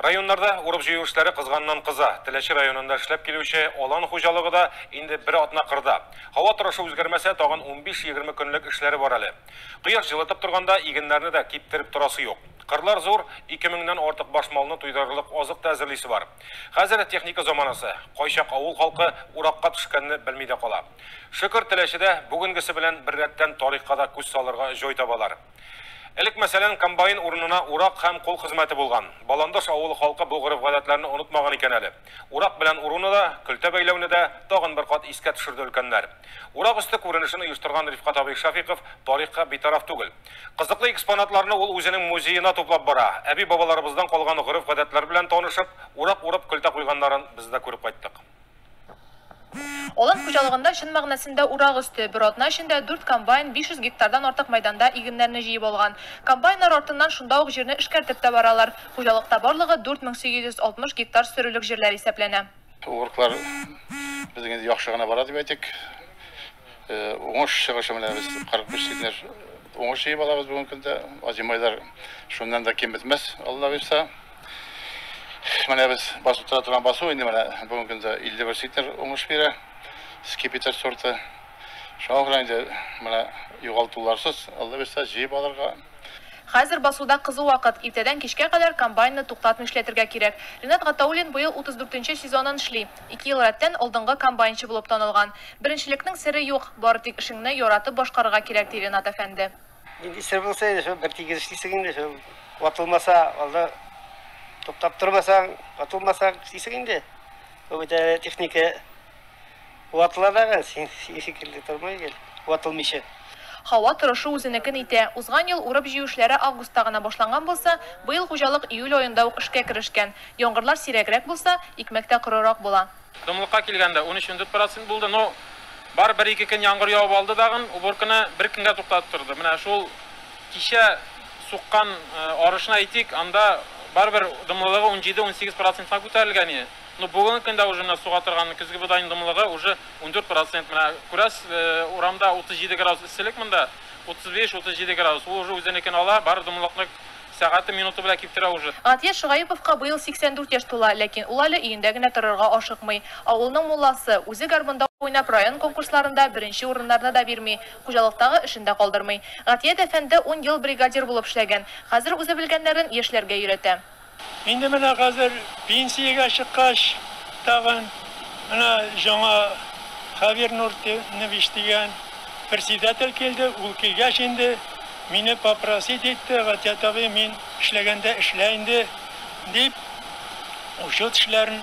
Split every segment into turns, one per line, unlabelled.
Районнарда урып җыю эшләре кызганнан кыза. Теләче районында эшләп килүче Алан хуҗалыгы да инде бер атна кырда. Һава торышы үзгәрмәсә, тагын 15-20 көнлек эшләре бар әле. Кояш җылытып торганда игеннәрне дә киптереп торасы юк. Кырлар зур, 2000-нән артык баш малны туйдырырлык азык та әзерлисе бар. Хәзер техника заманасы. Кайчак авыл халкы уракка төшкәнне белми дә кала. Шөкер, Теләчедә бүгенгесе белән беррәттән тарихка да күз салырга җой табалар. Элек, мәсәлән, комбайн урынына урак һәм кул хезмәте булган. Баландыш авылы халкы бу гореф-гадәтләрне онытмаган икән әле. Урак белән уруны да, көлтә бәйләүне дә тагын бер кат искә төшерде өлкәннәр. Урак өсте күренешен оештырган Рифкать абый Шәфыйков тарихка битараф түгел. Кызыклы экспонатларны ул үзенең музеена туплап бара. Әби-бабаларыбыздан калган гореф-гадәтләр белән танышып, урак урып, көлтә куйганнарын без дә күреп кайттык.
Алан хуҗалыгында чын мәгънәсендә урак өсте, бер атна эчендә дүрт комбайн 500 гектардан артык мәйданда игеннәрне җыеп алган. Комбайннар артыннан шунда ук җирне эшкәртеп тә баралар. Хуҗалыкта барлыгы 4860 гектар сөрелек җирләр исәпләнә. Урыклар
без инде яхшы гына бара дип әйтик. Уңыш чыгышы менә без 45 центнер уңыш җыеп алабыз бүгенге көндә. Азимы айлар шуннан да ким бетмәс, Алла бирса. Менә без басып тора торган басу инде менә бүгенге көндә 51 центнер уңыш бирә. Скипетр сорты. Шуңа күрә инде менә югалтуларсыз, Алла бирса, җыеп алырга. Хәзер
басуда кызу вакыт. Иртәдән кичкә кадәр комбайнны туктатмый эшләтергә кирәк. Ринат Гатауллин быел 34 нче сезонын эшли. Ике ел рәттән алдынгы комбайнчы булып танылган. Беренчелекнең сере юк, бары тик эшеңне яратып башкарырга кирәк, ди Ренат әфәнде. Нинди сер булса
инде, шул бертигез эшлисең инде, шул ватылмаса, алда туктап тормасаң, ватылмаса эшлисең инде. Бу бит әле техника ватыла дагы, син шикелле тормый гел ватылмыйча. Һава
торышы үзенекен итә. Узган ел урып-җыю эшләре августта гына башланган булса, быел хуҗалык июль аенда ук эшкә керешкән. Яңгырлар сирәгрәк булса, икмәк тә корырак була. Томлыкка килгәндә,
унөч-ундүрт процент булды, но бары бер-ике көн яңгыр явып алды дагын, уборканы бер көнгә туктатып торды. Менә шул кичә суккан арышны әйтик, анда барыбер дымлылыгы унҗиде-унсигез процентка күтәрелгән иде. Ну бүгенге көндә уже менә суга торган көзге бодайның дымлыгы уже ундүрт процент менә күрәсез урамда утыз җиде градус эсселек монда утыз биш утыз җиде градус ул уже үзенекен ала бар дымлыкны сәгате минуты белән киптерә уже. Гатья Шогәеповка
быел 84 яшь тула, ләкин ул әле өендә генә торырга ашыкмый. Авылның мулласы, үзе гармунда уйнап район конкурсларында беренче урыннарны да бирми, хуҗалыктагы эшен дә калдырмый. Гатья дә фәндә ун ел бригадир булып эшләгән, хәзер үзе белгәннәрен яшьләргә өйрәтә. Инде менә
хәзер пенсиягә чыккач, тагын менә җаңа Хәбир Нуртинович дигән председатель килде. Ул килгәч инде, мине попросить итте, Гатият абый, мин эшләгәндә эшлә инде, дип, учет эшләрен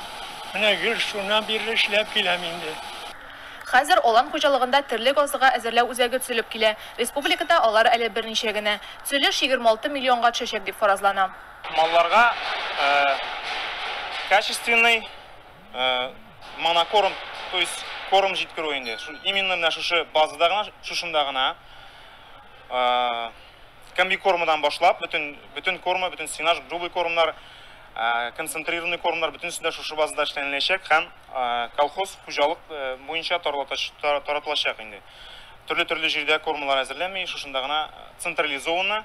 менә гел шуннан бирле эшләп киләм инде. Хәзер
Алан хуҗалыгында терлек азыгы әзерләү үзәге төзелеп килә. Республикада алар әле берничә генә. Төзелеш егерме алты миллионга төшәчәк дип фаразлана. Малларга
качественный монокорм, то есть корм җиткерү инде. Именно менә шушы базада гына, шушында гына комбикормадан башлап, бөтен бөтен корма, бөтен сенаж, грубый кормнар, концентрированный кормнар бөтенесе дә шушы базада эшләнеләчәк һәм колхоз хуҗалык буенча таратылачак инде. Төрле-төрле җирдә кормалар әзерләми, шушында гына централизованно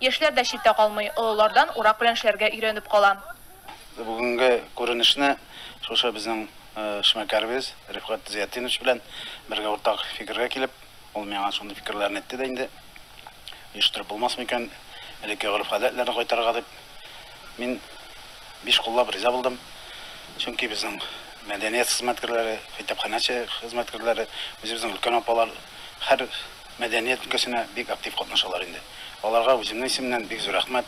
Яшьләр дә читтә калмый, олылардан урак белән эшләргә өйрәнеп кала. Бүгенге
күренешне шушы безнең эшмәкәребез Рифгать Зыятдинович белән бергә уртак фикергә килеп, ул миңа шундый фикерләрен әйтте дә инде, оештырып булмасмы икән, элекке гореф-гадәтләрне кайтарырга дип. Мин биш куллап риза булдым, чөнки безнең мәдәният хезмәткәрләре, китапханәче хезмәткәрләре, үзебезнең өлкән апалар һәр, Мәдәният өлкәсенә бик актив катнашалар инде. Аларга үземнең исемнән бик зур рәхмәт.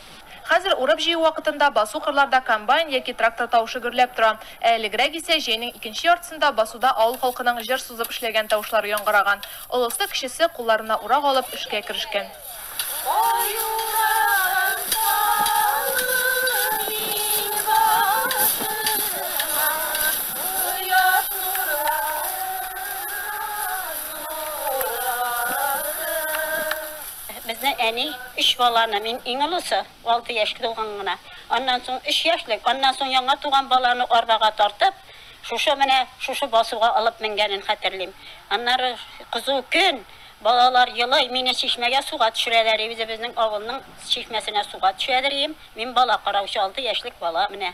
Хәзер урып-җыю
вакытында басу кырларда комбайн яки трактор тавышы гөрләп тора. Ә элегрәк исә җәйнең икенче яртысында басуда авыл халкының җыр сузып эшләгән тавышлары яңгыраган. Олысы, кечесе, кулларына урак алып, эшкә керешкән.
Безнең әни, өч баланы, мин иң олысы, алты яшь тулган гына, аннан соң өч яшьлек, аннан соң яңа туган баланы арбага тартып, шушы менә шушы басуга алып менгәнен хәтерлим. Аннары кызу көн, балалар елый, мине чишмәгә суга төшерәләр, и үзебезнең авылның чишмәсенә суга төшәдер ием, мин бала караучы, алты яшьлек бала менә.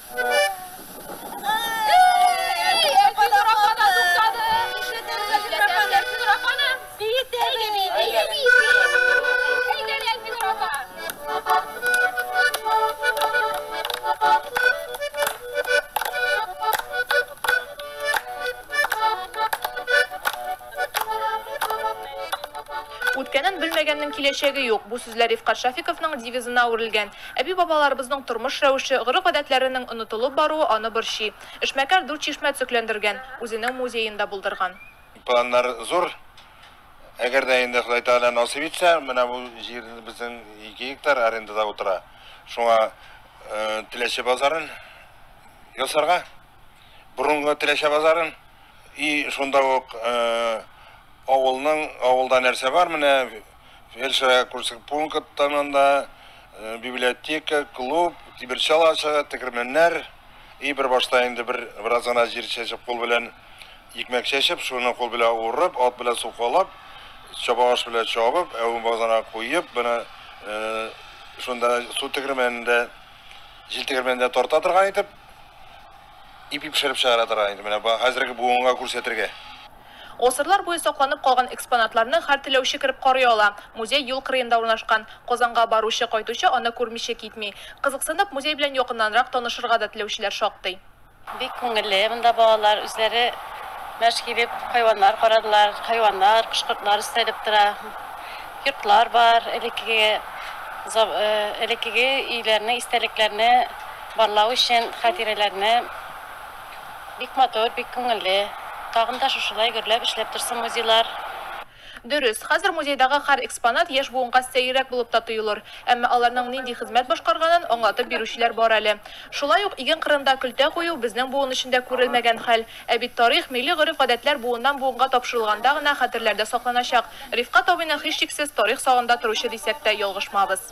Үткәнен белмәгәннең киләчәге юк, бу сүзләр Рифкат Шафиковның девизына әверелгән. Әби-бабаларыбызның тормыш рәвеше, гореф-гадәтләренең онытылып баруы аны борчый. Эшмәкәр дүрт чишмә төзекләндергән, үзенең музеен да булдырган. Планнар
зур. Әгәр дә инде Ходай Тәгалә насыйп итсә, менә бу җир безнең ике гектар арендада утыра. Шуңа Теләче базарын ясарга, борынгы Теләче базарын, и шунда ук авылның, авылда нәрсә бар, менә Фельдшерга күрсәк пункттан анда э, библиотека, клуб, тимерчал ашыгы, тегермәннәр. И бер башта инде бер бераз гына җир чәчеп кул белән икмәк чәчеп, шуны кул белән урып, ат белән сукалап, чабагаш белән чабып, әвен базана куеп, менә э, шунда су тегермәнендә җил тегермәнендә тарта торган итеп Ипи пешереп чыгара торган иде, менә хәзерге буынга күрсәтергә. Гасырлар
буе сакланып калган экспонатларны һәр теләүче кереп карый ала. Музей юл кырыенда урнашкан. Казанга баручы, кайтучы аны күрмичә китми. Кызыксынып, музей белән якыннанрак танышырга да теләүчеләр шактый. Бик күңелле
монда балалар үзләре мәш килеп хайваннар карадылар, хайваннар, кош-кортлар өстәлеп тора. Йортлар бар, элеккеге, элеккеге өйләрне, истәлекләрне. Барлау өчен хатирәләрне бик матур, бик күңелле. Тагын да шушылай гөрләп эшләп торсын музейлар. Дөрес,
хәзер музейдагы хәр экспонат яшь буынга сәеррәк булып та тоелыр. Әмма аларның нинди хезмәт башкарганын аңлатып бирүчеләр бар әле. Шулай ук иген кырында көлтә кую безнең буын өчен дә күрелмәгән хәл. Ә бит тарих, милли гореф-гадәтләр буыннан-буынга тапшырылганда гына хәтерләрдә сакланачак. Рифкать абыйны һичшиксез тарих сагында торучы дисәк тә ялгышмабыз.